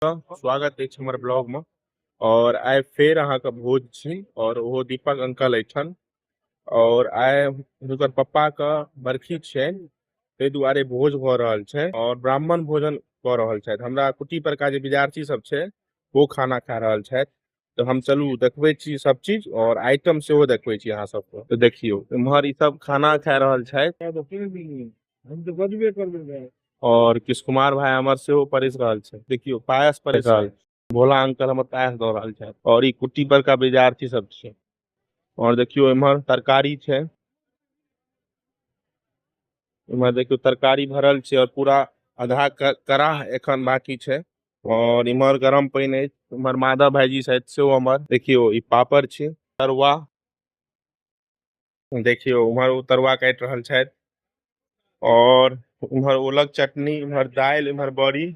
स्वागत अछि हमर ब्लॉग में और आइ फेर अहाँ के भोज छी और ओहो दीपक अंकल एठन और आइ हुनकर पप्पा के बरखी छनि ताहि दुआरे भोज भऽ रहल छै और ब्राह्मण भोजन कऽ रहल छथि हमरा कुटी पर का जे विद्यार्थी सब छै वो खाना खा रहल छथि तऽ हम चलू देखबै छी सब चीज और आइटम सेहो देखबै छी अहाँ सबके तऽ देखियौ इम्हर ई सब खाना खा रहल छथि हम तऽ बजबे करबै और किस कुमार भाई हमर सेहो परिस रहल छै देखियौ पायस परिस रहल भोला अंकल हमर पायस दऽ रहल छथि और ई कुट्टी पर का विद्यार्थी सब छै और देखियो इमहर तरकारी छै इमहर देखियो तरकारी भरल छै और पूरा आधा कराह एखन बाकी छै और इमहर गरम पानी है इमहर माधव भाईजी शायद से हमर देखियो ई पापड़ छै तरुआ देखियो उमहर तरुआ काट रहल छै और उम्हर ओलक चटनी उम्हर दाल उम्हर बड़ी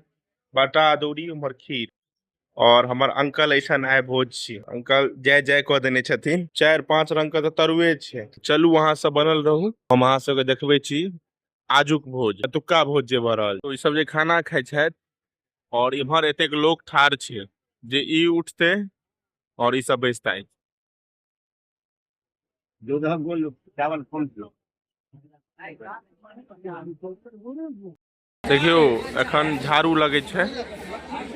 बाटा अदौरी उम्हर खीर और हमर अंकल ऐसा आय भोज छी अंकल जय जय कह देने छथिन चार पांच रंग के तो तरुए छे चलू अहाँ सब बनल रहू हम अहाँ सबके देखबे छी आजुक भोज अतुक्का भोज जे भऽ रहल तो ई सब जे खाना खाइ छथि और इम्हर एतेक लोक ठार छे जे ई उठते और ई सब बैसते দুধক বললো চাওয়াল কমছিল देखियो एखन झाड़ू लगै छै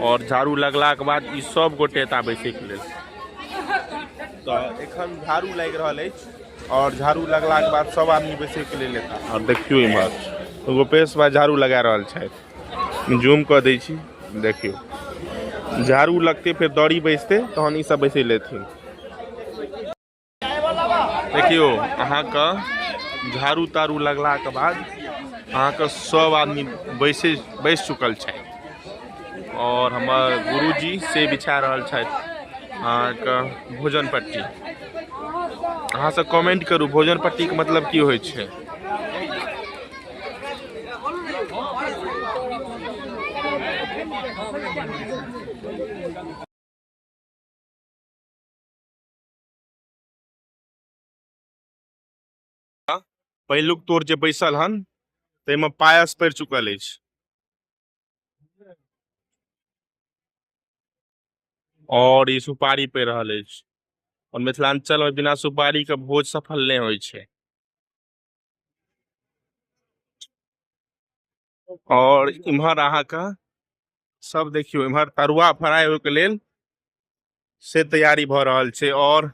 और झाड़ू लगला के बाद ई सब गोटे एतऽ बैसै के लेल तऽ एखन झाड़ू लागि रहल अछि और झाड़ू लगला के बाद सब आदमी बैसै के लेल एतऽ और देखियो इम्हर गोपेश भाई झाड़ू लगा रहल छथि जूम कऽ दै छी देखियौ झाड़ू लगतै फेर दड़ी बैसतै तहन ईसभ बैसै लेथिन देखियौ अहाँके झाड़ू ताड़ू लगलाके बाद अहाँके सभ आदमी बैसे बैस चुकल छथि आओर हमर गुरुजी से बिछा रहल छथि अहाँके भोजन पट्टी अहाँसभ कमेंट करू भोजन पट्टीके मतलब की होइ छै पहिलुक तोर जे बैसल हन ताहिमे पायस पड़ि चुकल अछि और ई सुपारी पड़ि रहल अछि और मिथिलांचल में बिना सुपारी के भोज सफल नहि होइ छै और इम्हर अहा का सब देखियो इम्हर तरुआ फ्राई होके लेल से तैयारी भ रहल छे और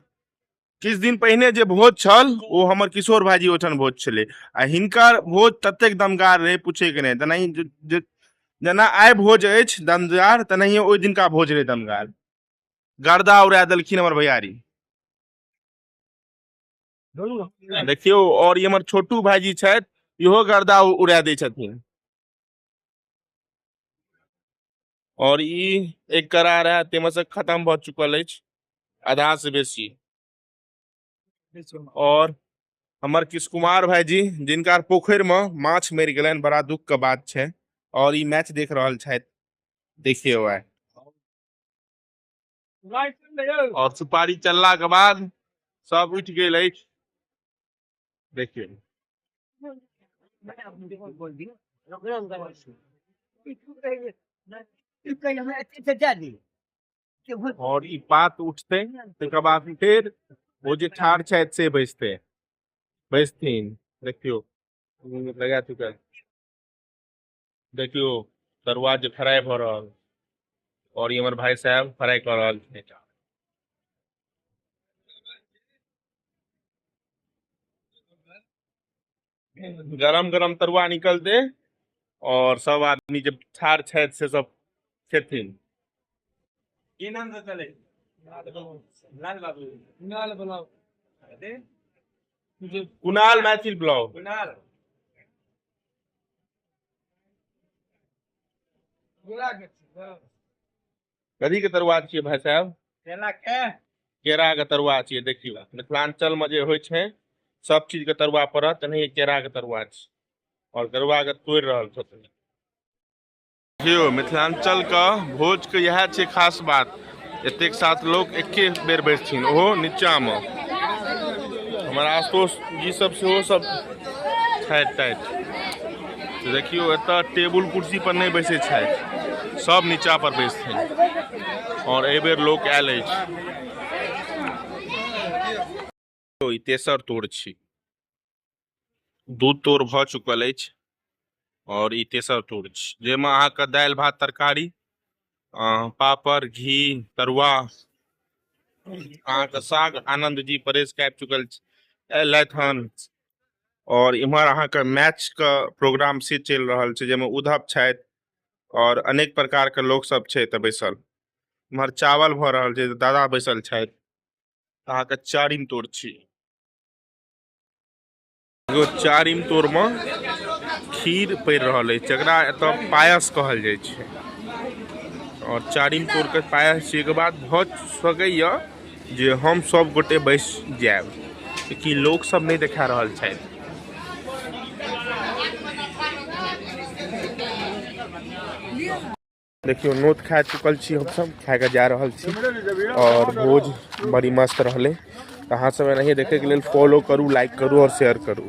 किछु दिन पहिने जे भोज छल ओ हमर किशोर भाईजी ओहिठाम भोज छलै आ हिनकर भोज ततेक दमगार रहै पूछैके नहि तेनाहि जेना आइ भोज अछि दमगार तेनाहिए ओहि दिनका भोज रहै दमगार गर्दा उड़ा देलखिन हमर भैयारी देखियौ और इमर छोटू भाईजी छथि इहो गर्दा उड़ा दै छथिन और ई एक करार है ताहिमे से खत्म भ चुकल अछि आधा से बेसी और हमर किश कुमार भाईजी जिनका पोखर में माछ मरि गलन बड़ा दुख के बात छै और ई मैच देख रहल छथि देखियौ आइ और सुपारी चलला के बाद सब उठ गेल अछि देखियौ और ई पात उठते तकर बाद फेर ओ जे ठाढ़ छथि से बैसते बैसथिन देखियौ लगा चुकल देखियो तरुआ जे फ्राई भ रहल और ये हमारे भाई साहब फ्राई कर रहल छे गरम गरम तरुआ निकल दे और सब आदमी जब छाड़ छे से सब खेथिन की नाम से चले लाल बाबू लाल बाबू कुणाल मैथिल ब्लॉग कुणाल कथी के तरुआ छियै भाई साहब केला के केरा के तरुआ छियै देखियौ मिथिलांचल में जे होइ छै सब चीज के तरुआ पड़त एनाहिए केरा के तरुआ छै और तरुआ के तोड़ रहल छथिन देखियौ मिथिलाञ्चलके भोजके इएह छै खास बात एतेक साथ लोक एके बेर बैसथिन ओहो नीचाँमे हमर आशुतोष जी सब सेहो सब छथि ताथि तऽ देखियौ एतऽ टेबुल कुर्सी पर नहि बैसै छथि सब नीचा पर बैसथिन आओर एहि बेर लोक आयल अछि ई तेसर तोर छी दू तोर भऽ चुकल अछि आओर ई तेसर तोर छी जाहिमे अहाँके दालि भात तरकारी पापड़ घी तरुआ अहाँके साग आनंद जी परेश कए चुकल एलथि हन और इम्हर अहाँके मैच के प्रोग्राम से चलि रहल छै जाहिमे उद्धव छथि और अनेक प्रकार के लोक सब छै तऽ बैसल इम्हर चावल भऽ रहल छै दादा बैसल छथि तऽ अहाँके चारिम तोड़ छी एगो चारिम तोड़मे खीर पड़ि रहल अछि जकरा एतऽ पायस कहल जाइ छै आओर चारिम तोड़के पायस छिएके बाद भऽ सकैए जे हम सब गोटे बैस जाएब कि लोक सब नहि देखा रहल छथि देखियो नोत खा चुकल छी हम सब खा के जा रहल छी और भोज बड़ी मस्त रहले अहाँ सब एनाहिए देखे के लेल फॉलो करू लाइक करू और शेयर करू